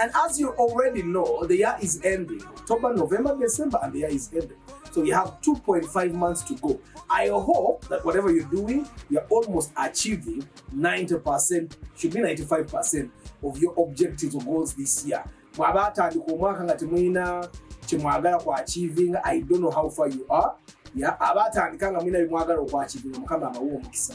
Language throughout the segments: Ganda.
And as you already know, the year is ending. October, November, December, and the year is ending. So we have 2.5 months to go. I hope that whatever you're doing, you're almost achieving 90%, should be 95% of your objectives or goals this year. mwaba atandika omwaka nga temulina kyemwagala ku achieving i don't know how far you are ya aba atandika nga mulina byemwagala oku achieving mukama abawa omukisa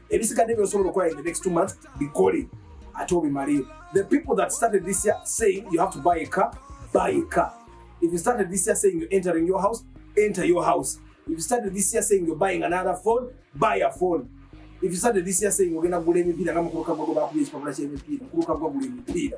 ebisigadde byosobola okukola in the next two months bikole ate obimaleyo the people that started this year saying you have to buy a car buy a car if you started this year saying you're entering your house enter your house if you started this year saying you're buying another phone buy a phone if you started this year saying ogenda kugula emipiira nga mukuluka gwago bakuba ekipapula ky'emipiira mukuluka gwagula emipiira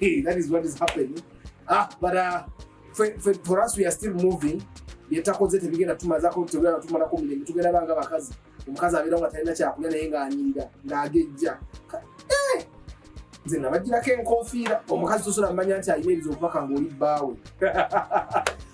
Hey, that is what is happening. Ah, but uh, for, for, for us we are still moving. Byetakoze tebigenda tumazako tebigenda tumalako mirembe tugenda banga bakazi. Omukazi abeera nga talina kyakulya naye ng'anyirira ng'agejja. Eh! Nze nabagirako enkofiira omukazi tosobola manya nti alina ebizo okubaka ng'oli bbaawe.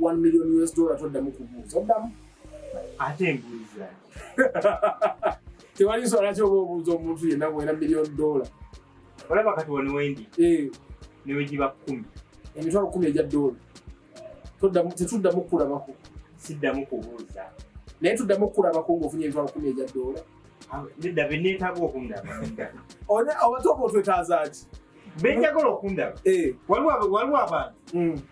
1 million US dollar toddamu kubuuza oddamu ate mbuuza tewali nsonga lwaki oba obuuza omuntu yenna bwera million dollar olaba kati wano wendi eh. newegiba kumi emitwalo kumi egya doola tetuddamu kukulabako siddamu kubuuza naye tuddamu kukulabako ngaofunye emitwalo kumi egya doola ah, nedda beneetaaga okundaba oba toba otwetaazaaki benjagala okundaba eh. waliwo abantu mm.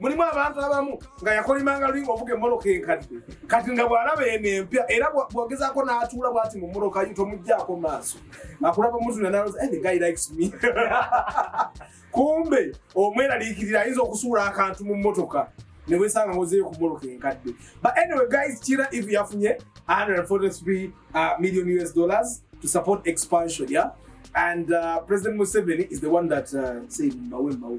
mulimu abantu abamu nga yakolimanga lulinga ovuga emmotoka enkadde kati nga bw'alaba eno empya era bw'ogezaako n'atuula bwati mu mmotoka yo tomuggyako maaso akulaba muzuna naloza eh, the guy likes me kumbe omweraliikirira ayinza okusuula akantu mu mmotoka ne wesanga ngozeeyo ku mmotoka enkadde but anyway guys kira if yafunye 143 uh, million us dollars to support expansion yeah and uh, president museveni is the one that uh, said mbawe mbawe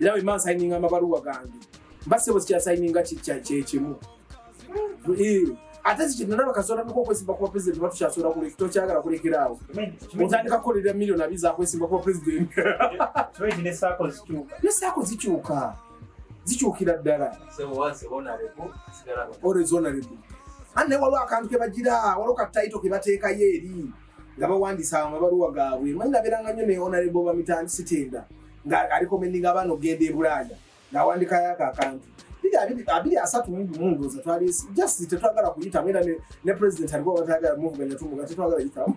era bwe mba nsayininga amabaluwa gange mba sebo sikyasayininga kyekimu ate zikinalaba kasobola nuko okwesimba kuba president oba tukyasobola kuleka tokyagala kulekera awo otandika kukolera million abi zakwesimba kuba president nesaako zikyuka zikyukira ddala orezonarebu ani naye waliwo akantu kebagira waliwo kataito kebateekayo eri nga bawandiisa amabaluwa gaabwe manyi nabeeranga nnyo ne onarebo bamitandi sitenda nga alikomendinga abaana okugenda e bulaaya ng'awandikayo ako akantu abiri asatu mu gumu ndowooza twali just tetwagala kuyitamu era ne president alikuwa batayagala muvuganya tumuga tetwagala yitamu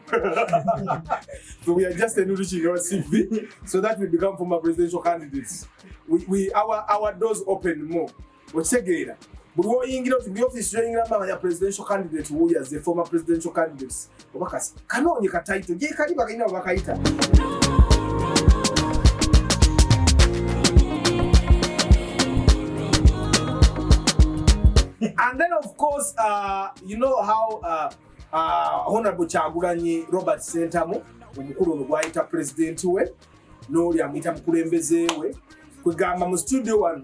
so we are just a new reaching our cv so that we become former presidential candidates we, we, our, our doors open more okitegeera buli woyingira oti buli ofisi yoyingiramu amanya presidential candidate wuya ze former presidential candidates oba kasi kanoonye katayito gyekali bakalina webakayita and then of course uh, you know how uh, uh, honorable kyagulanyi robert sentamu omukulu ono gwayita president we n'oli amuyita mukulembeze we kwegamba mu studio wano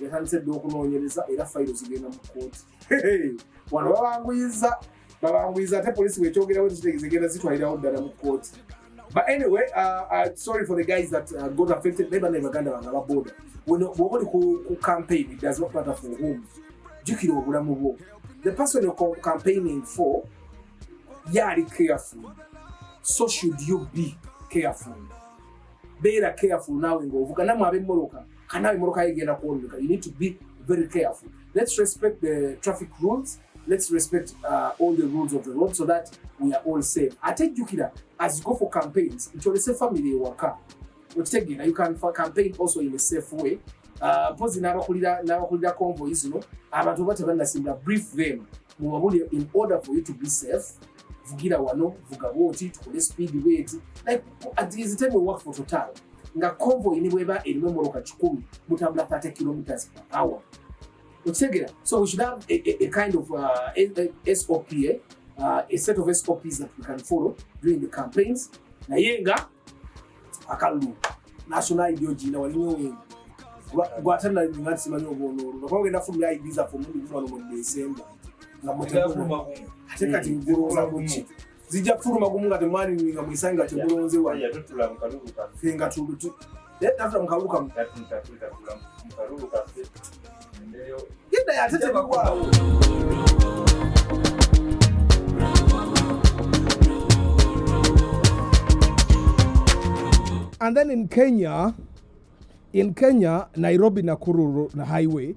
yatandise dda okunoonyereza era fayiro zigenda mu kkooti wano babanguyiza babanguyiza ate poliisi bwekyogerawo tekitegeza egenda zitwalirawo ddala mu kkooti but anyway uh, uh, sorry for the guys that uh, got affected naye banaye baganda bange ababoda bwoba oli ku campaign it does not matter for whom jjukira obulamu bwo the person you're campaigning for yaali careful so should you be careful beera careful naawe ng'ovuga namwe ab'emmoloka kanawe emotoka yegenda kwononeka you need to be very careful let's respect the traffic rules let's respect uh, all the rules of the road so that we are all safe ate jjukira as you go for campaigns nti olese family ewaka okitegeera you can campaign also in a safe way uh, mpozi n'abakulira convoy zino abantu oba tebannasimbula brief them mubabulire in order for you to be safe vugira wano vuga bwoti tukole speed bwetu like at this time we work for total nga convoy ni bweba erimu emoroka kikumi mutambula 30 kilometers per hour okitegera so we should have a, a, a kind of uh, a, a sop eh? uh, a set of sops that we can follow during the campaigns naye nga akalulu national id ogirina wali nyowenga gwate nali nga nsimanyi obwonoolwo nakuba ogenda fumira id zaffe omundi gumu wano mu desemba nga mutemuno ate kati ngulonza muki zijja kufuluma gumu nga temwalininga mwesange nga tegulonze wano fe nga tafuta mukalulu kamu genda yatetebakwao And then in Kenya, in Kenya, Nairobi Nakuru highway,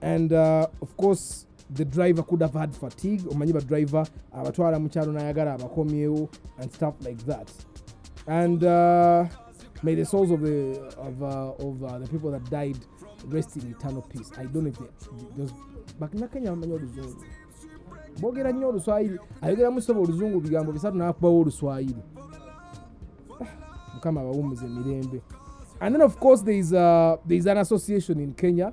and uh, of course the driver could have had fatigue omanyi badriver abatwala uh, mukyalo nayagala abakomyewo and stuff like that and uh, may the souls of the, of, uh, of uh, the people that died rest in eternal peace i don't know if they, those, bakinakenya bamanya oluzungu bogera nnyo oluswayiri ayogeramu soba oluzungu bigambo bisatu nakubawo oluswayiri ah, mukama abawumuza emirembe and then of course there is, a, uh, there is an association in kenya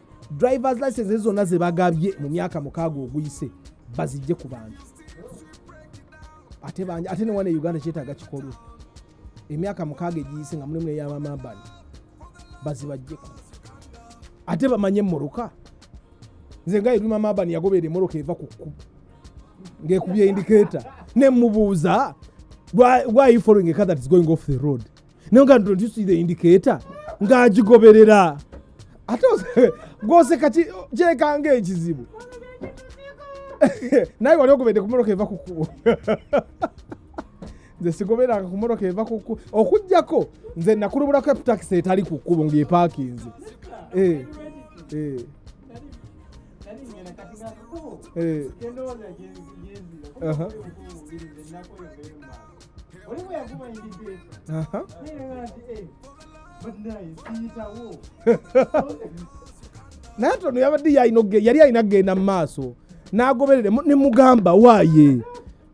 drivers license zonna ze bagabye mu myaka mukaaga oguyise bazijje ku bantu ate bangi ate newana e uganda kyetaaga kikolwa emyaka mukaaga egiyise nga mulimu neyabamambani bazibajjeko ate bamanye emmoroka nze nga ebima mambani yagobeera emmoroka eva ku kkubo ng'ekubye indiketa ne mubuuza why, why are you following a car that is going off the road naye nga don't you see the indicator ng'agigoberera ate ose- gwoseka ki- kyekanga ekizibu naye wali ogobedde ku mmotoka eva ku kkubo nze sigoberanga ku mmotoka eva ku kkubo okuggyako nze nakulubulako eputakisi etali ku kkubo ng'epaakinze Eh, eh, eh. Aha. naye tono yabadde yali alina kugenda mu maaso n'agoberere ne mugamba waaye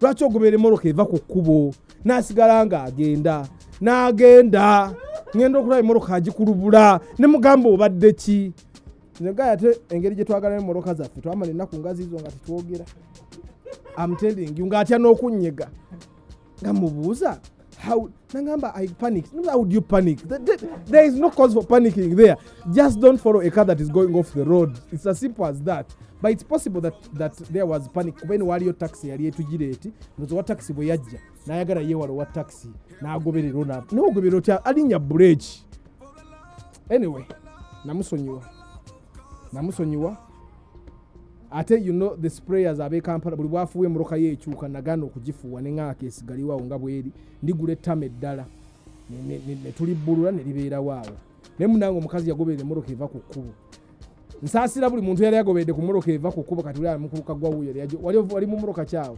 lwaki ogoberera emoroka eva ku kkubo n'asigala ng'agenda n'agenda ngenda okulaba emoroka agikulubula ne mugamba obadde ki nze gaya ate engeri gye twagalamu emmotoka zaffe twamala ennaku ngazi zo nga tetwogera amtending nga atya n'okunyega nga mubuuza how nangamba i panic no, how would you panic there, there, there is no cause for panicking there just don't follow a car that is going off the road it's as simple as that but it's possible that, that there was panic kuba eno waaliyo taxi yali etujira eti nozowa taxi bwe yajja nayagala yewala owa taxi nagoberera ona nawe ogoberera otya alinya bureeki anyway namusonyiwa namusonyiwa ate you know the sprayers abe kampala buli bwafuuwa emoroka ye ekyuka nagana okugifuuwa neŋaaka esigaliwawo nga bweri ndigula ettama eddala netulibbulula neribeerawo awo naye munange omukazi yagoberera emoroka eva ku kkubo nsaasira buli muntu yali agoberedde ku moroka eva ku kkubo kati uli ali mukubuka gwawuyo wali mu moroka kyawo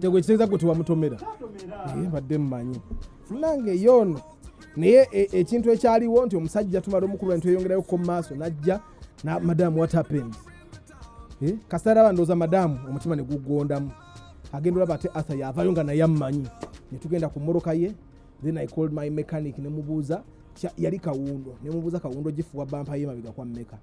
tegwekitegeeza gwe tewamutomera naye mbadde mumanyi nange yoono naye e, ekintu ekyaliwo nti omusajja tumala omukulu nti eyongerayo ko maaso najja na madamu what happened eh, kasitara bandooza madamu omutima negugondamu agenda olaba ate arthur yavayo nga naye amumanyi netugenda ku moroka ye then i called my mechanic nemubuuza yali kawundo nemubuuza kawundo gifuwa bampa ye mabega kwa meka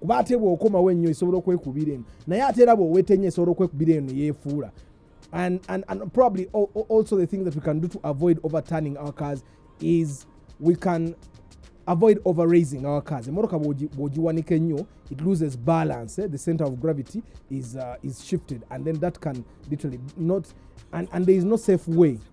kuba ate bwokomawo ennyo esobola okwekubira eno naye ate era bwoweta ennyo esobola okwekubira eno yefuula and, and, and probably also the thing that we can do to avoid overturning our cars is we can avoid overraising our cars emotoka bwogiwanika ennyo it loses balance eh? the center of gravity is, uh, is shifted and then that can literally not and, and there is no safe way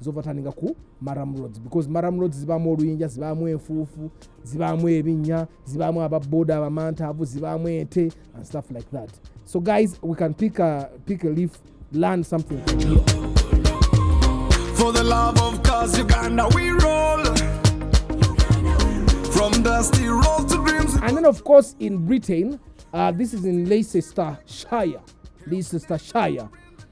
zovatandika ku maram roads because maram roads zibaamu oluyinja zibaamu enfuufu zibaamu ebinnya zibaamu ababoda abamantaavu zibaamu ente and stuff like that so guys we can pick a, pick a leaf learn something from here. for the love of cause uganda we roll from dusty road to dreams and then of course in britain uh, this is in leicester shire leicester shire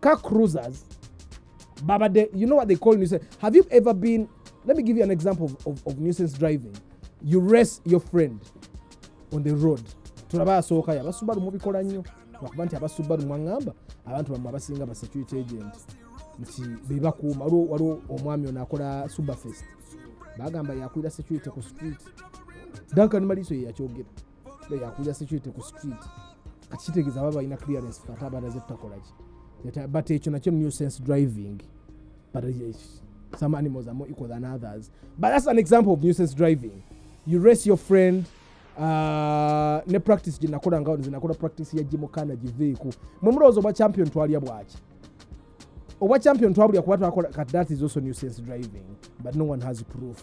car cruisers babadde you know what they call nuisance have you ever been let me give you an example of, of, of nuisance driving you race your friend on the road tulaba asooka yo abasubaru mubikola nnyo lwakuba nti abasubaru mwaŋŋamba abantu bamwe abasinga ba security agent nti bebakuuma waliwo omwami ono akola superfest bagamba yakulira security ku street duncan maliso yeyakyogera yakuja security ku street kati kitegeeza baba balina clearance kati abanaze tutakolaki but ekyo nakyo new sense driving but eh, some animals are more equal than others but that's an example of new sense driving you race your friend uh, ne practice gyenakola nga nze nakola practice ya gimukana giveeku mwe mulowooza obwa champion twalya bwaki obwa champion twabulya kuba twakola kati that is also new sense driving but no one has proof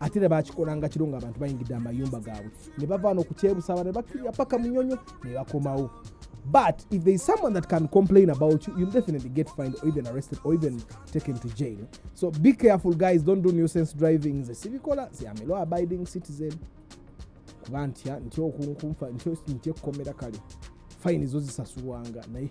ate era bakikolanga kiro nga abantu bayingidde amayumba gaabwe ne bavaana okukyebusaba ne bakkirira paka munyonyo ne bakomawo but if there is someone that can complain about you you'll definitely get fined or even arrested or even taken to jail so be careful guys don't do nuisance driving nze sibikola nze am a law abiding citizen kuba ntya ntya okunkumfa ntya ekkomera kale fine zo zisasulwanga naye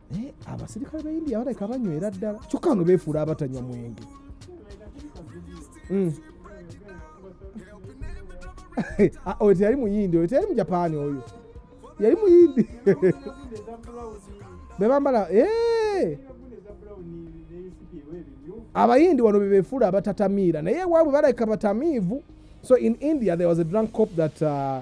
naye eh, abasirikale ba india baleka banywera ddala kyokka nga beefuula abatanywa mwenge hmm. ah, oyo teyali muyindi oyo teyali mujapaani oyo yali muyindi bebambala eh! abayindi wano bebefuula abatatamiira naye ewaabwe baleka batamiivu so in india there was a drunk cop that uh,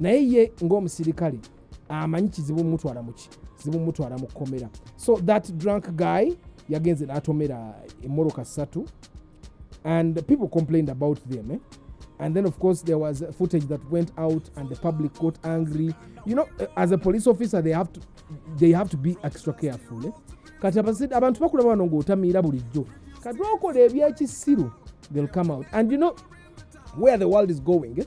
naye ye ng'omusirikale amanyi kizibu mutwala muki zibu mutwala mu kkomera so that drunk guy yagenze n'atomera emmoloka ssatu and people complained about them eh? and then of course there was footage that went out and the public got angry you know eh, as a police officer they have to, they have to be extra careful eh? kati abantu bakulaba wano ng'otamiira bulijjo kati okola ebyekisiru they'll come out and you know where the world is going eh?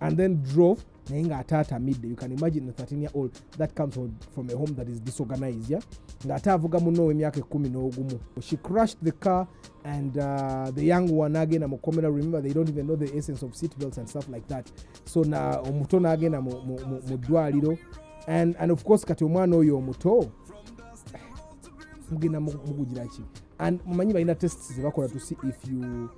and then drove naye ng'ate atamidde you can imagine a 13 year old that comes from, from a home that is disorganized yeah? ng'ate avuga munno ow'emyaka ekkumi n'ogumu she crushed the car and uh, the young one agenda mu komera remember they don't even know the essence of seat belts and stuff like that so na omuto n'agenda mu ddwaliro and, and of course kati omwana oyo omuto mugenda mugugiraki and mumanyi balina tests zebakola to see if you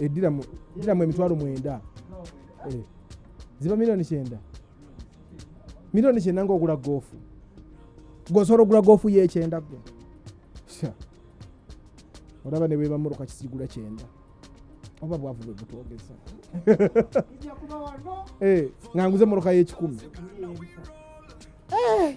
ediramu eh, emitwalo mwenda eh, ziba miliyoni kyenda miliyoni kyenda ngaogula goofu gosobola ogula goofu yekyenda gwe olaba ne bwebamuruka kisigula kyenda oba bwavu bwe butwogeza eh, nga nguze muruka y'ekikumi eh.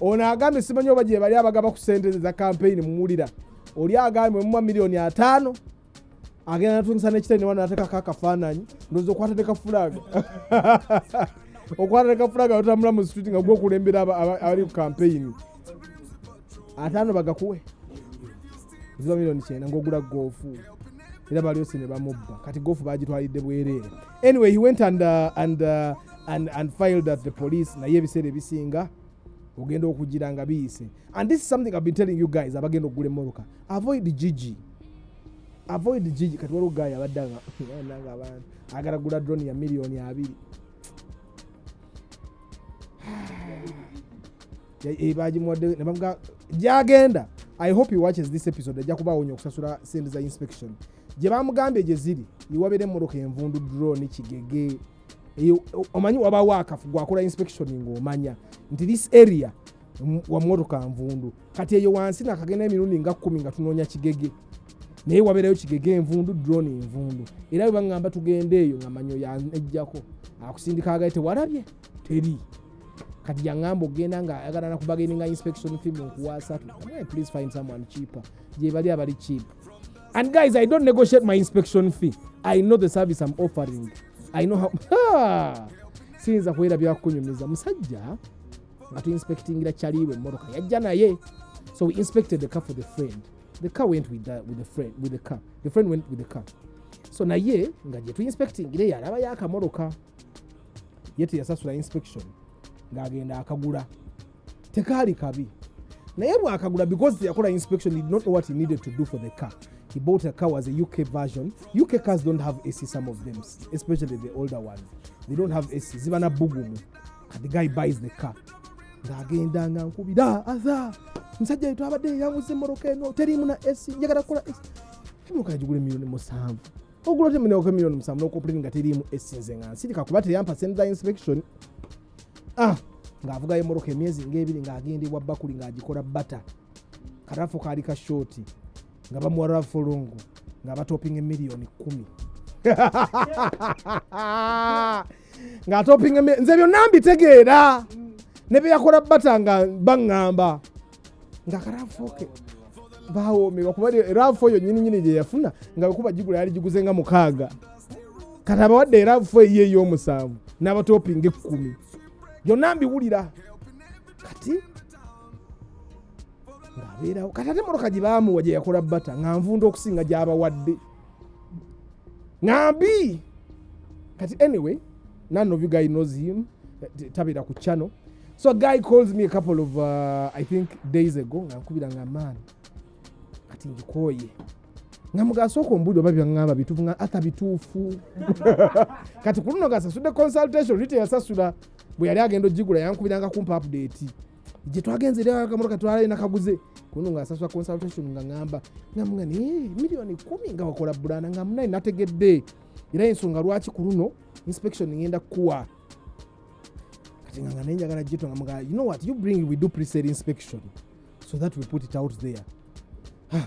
ono agambye simanyi oba gyebali abagaba ku sente za kampeyini muwulira oli agambye mumwa miliyoni ataano agenda natungisa nekitani newana natekako akafaananyi ndoza okwata nekafulaga okwata nekafulaga otambula mu street nga gwokulembera abali ku kampeyini ataano bagakuwe ziba miliyoni kyenda ngaogula goofu era balyosi ne bamubba kati goofu bagitwalidde bwereere anyway he went and, uh, and, uh, and, and filed at the police naye ebiseera ebisinga ogenda okugira nga biyise and this is something i've been telling you guys abagenda okugula emmotoka avoid gigi avoid gigi kati waliwo guy abadde nga abantu agala gula drone ya miliyoni abiri eh, bagimuwadde nebamuga gyagenda i hope he watches this episode ajja kuba awonya okusasula sente za inspection gye bamugambye gye ziri iwabeera emmotoka envundu drone kigege omanyi wabawo akafu gwakola inspection ngaomanya nti this area wamotoka nvundu kati eyo wansi nakagenda emirundi nga kumi nga tunoonya kigege naye wabeerayo kigege envundu drone envundu era bwe baŋŋamba tugenda eyo nga manyo yanejjako akusindika agaye tewalabye teri kati yaŋŋamba okugenda nga ayagala nakubageninga inspection fee munkuwa asatu please find someone cheaper gyebali abali cheap And guys, I don't negotiate my inspection fee. I know the service I'm offering. I know how... Ha! Siyinza kuwera byakunyumiza. Musajja, nga tu inspectingira chaliwe mmotoka. Yajja naye. So we inspected the car for the friend. The car went with the, with the friend, with the car. The friend went with the car. So naye, nga je tu inspectingira yalaba yaka mmotoka. Yete yasasula inspection. Nga agenda akagula. tekaali kabi naye bwakagula because yakola inspection did not know what he needed to do for the car he bought a car was a uk version uk cars don't have ac some of them especially the older ones they don't have ac ziba na bugumu and the guy buys the car ng'agenda nga nkubira aza musajja yetu abadde yanguza emmoroka eno teriimu na ac njagala kukola ac emoka yagigula emiliyoni musanvu ogula otemunewako emiliyoni musanvu nokoplini nga teriimu ac nze nga nsirika kuba teyampa send the inspection ah, ng'avuga emmotoka emyezi ng'ebiri ng'agenda ewa bakuli ng'agikola bata karafu kaali ka shoti nga bamuwa rafolongo nga batopinga emiliyoni kumi ng'atopinga nze byonna mbitegeera ne bye yakola bata nga baŋŋamba nga karafoke bawoomebwa kuba rafu eyo nyini nyini gyeyafuna nga wekuba gigula yali giguze nga mukaaga kati abawadde rafu eyo ey'omusanvu n'abatopinga ekkumi byonna mbiwulira kati ng'abeerawo kati ate emotoka gye baamuwa gye yakola bata nga nvunda okusinga gy'abawadde nambi kati anyway none of you guy knows him tabira ku channel so a guy calls me a couple of uh, i think days ago ngankubira nga man kati ngikoye nga mugasooka ombuulire oba byaŋŋamba bituufu nga ata bituufu kati ku luno gasasudde consultation rita yasasula bwe yali agenda ogigula yankubiranga kumpa update gye twagenze era akamotoka twalina kaguze kuno ngaasasula consultation nga ngamba ngamuga naye miliyoni kumi nga wakola bulanda nga munaye nategedde era ensonga lwaki ku luno inspection ngenda kukuwa kati nga nga naye njagala gito nga muga you know what you bring we do presale inspection so that we put it out there ah.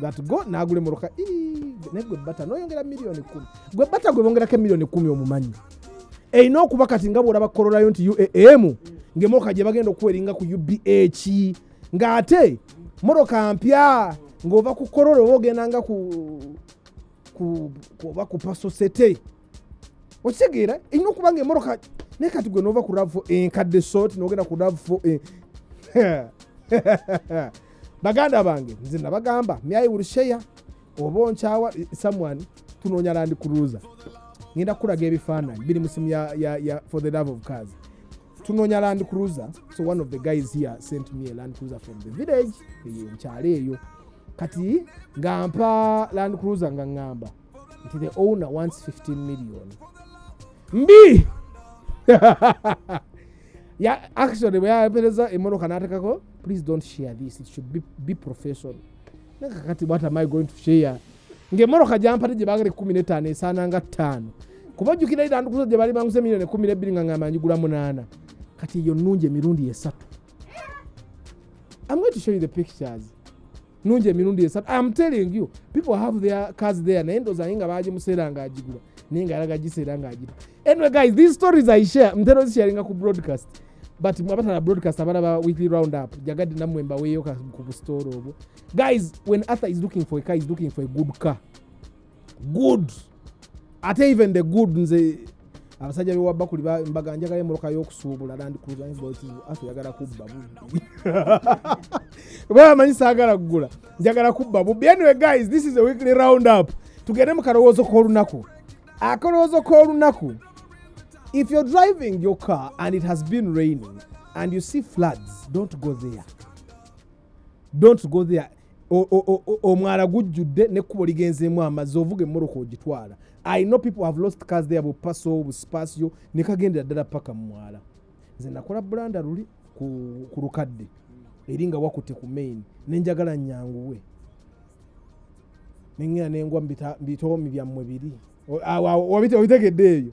that go nagula emotoka naye gwe bata noyongera miliyoni kumi gwe bata gwe bongerako emiliyoni kumi omumanyi erina okuba kati nga bwolaba korolayo nti uam ngaemotoka gye bagenda okuweringa ku ubh ng'ate motoka mpya ng'ova ku korola oba ogenda nga ku oba ku pasosete okitegeera erina okuba nga emoroka naye kati gwe nova ku rav enkadde sot nogenda ku rav eh. baganda bange nze nabagamba myayi will share oba onkyawa eh, someone tunoonya landi kuruza ngenda kukulaga ebifaananyi biri mu simu ya for the love of cars tunoonya land cruiser so one of the guys here sent me a land cruiser from the village eyo nkyalo eyo kati nga mpa land cruiser nga ŋŋamba nti the owner wants 15 million mbi ya actually bwe yapereza emotoka n'atekako please don't share this it should be, be professional naye kakati what am i going to share ng'emmotoka gyampate gye baagala ekkumi n'ettaano esaana nga ttaano kuba ojjukira era ndukuzo gye baali banguza emiliyoni ekkumi n'ebbiri nga ngamba njigula munaana kati eyo nnungi emirundi esatu I'm going to show you the pictures. nungi emirundi esatu am telling you people have their cars there naye ndoza naye nga bagimuseera nga agigula naye nga alaga giseera nga agita anyway guys these stories i share mtera ozisharinga ku broadcast but mwabatana broadcast abana ba weekly round up jagadde namwe mbaweeyo ku busitore obwo guys when arthur is looking for a car is looking for a good car good ate even the good nze abasajja bewabakuli mbaga njagala emoloka yokusuubula landcruiserayagala kubba bubbi bamanyi saagala kugula njagala kubba bubbi anyway guys this is a weekly round up tugende mu kalowoozo k'olunaku akalowoozo k'olunaku if you're driving your car and it has been raining and you see floods don't go there don't go there omwala gujjudde nekkubo ligenzeemu amazzi ovuga emmoroka ogitwala i know people have lost cars there bupaso busipasio nekagendera ddala paka mumwala nze nakola bulanda luli ku lukadde eri nga wakute ku main nenjagala nyanguwe nengera nengwa mubitoomi byammwe biri obitegedde eyo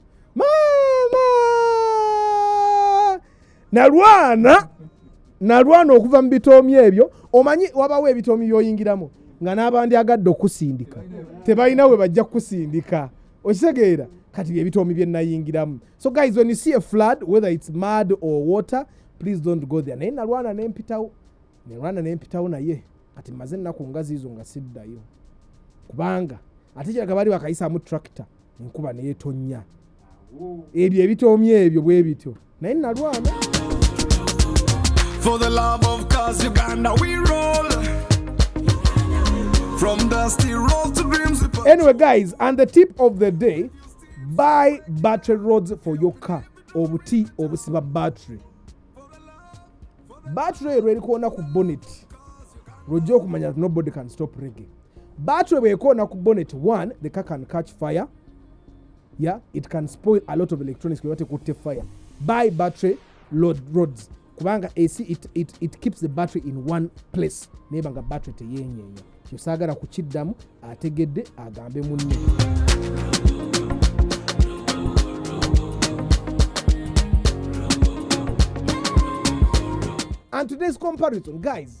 nalwana nalwana okuva mu bitoomi ebyo omanyi wabawo ebitoomi byoyingiramu nga n'abandi agadde okusindika tebalina we bajja kukusindika okitegeera kati byebitoomi bye nayingiramu so guys when you see a flood whether it's mud or water please don't go there naye nalwana nempitawo nalwana nempitawo naye kati maze ennaku nga ziizo nga siddayo kubanga ate kiraga baali bakayisamu tractor enkuba neyetonnya ebyo ebitoomye ebyo bwe bityo naye nalwana For the love of cause Uganda we roll From dusty roads to dreams Anyway guys and the tip of the day buy battery roads for your car obuti obusiba battery battery ero erikoona ku bonnet lwojja okumanya nobody can stop reggae battery bwekoona ku bonnet one the car can catch fire yeah it can spoil a lot of electronics kuba tekutte fire buy battery load roads kubanga ac it, it, it keeps the battery in one place naye banga battery teyenyeenya kyosaagala kukiddamu ategedde agambe munne and today's comparison guys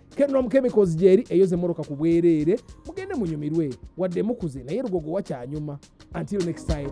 kenom chemicals gyeri eyoza emmoroka ku bwereere mugende munyumirwe wadde mukuze naye lugogo wakyanyuma until next time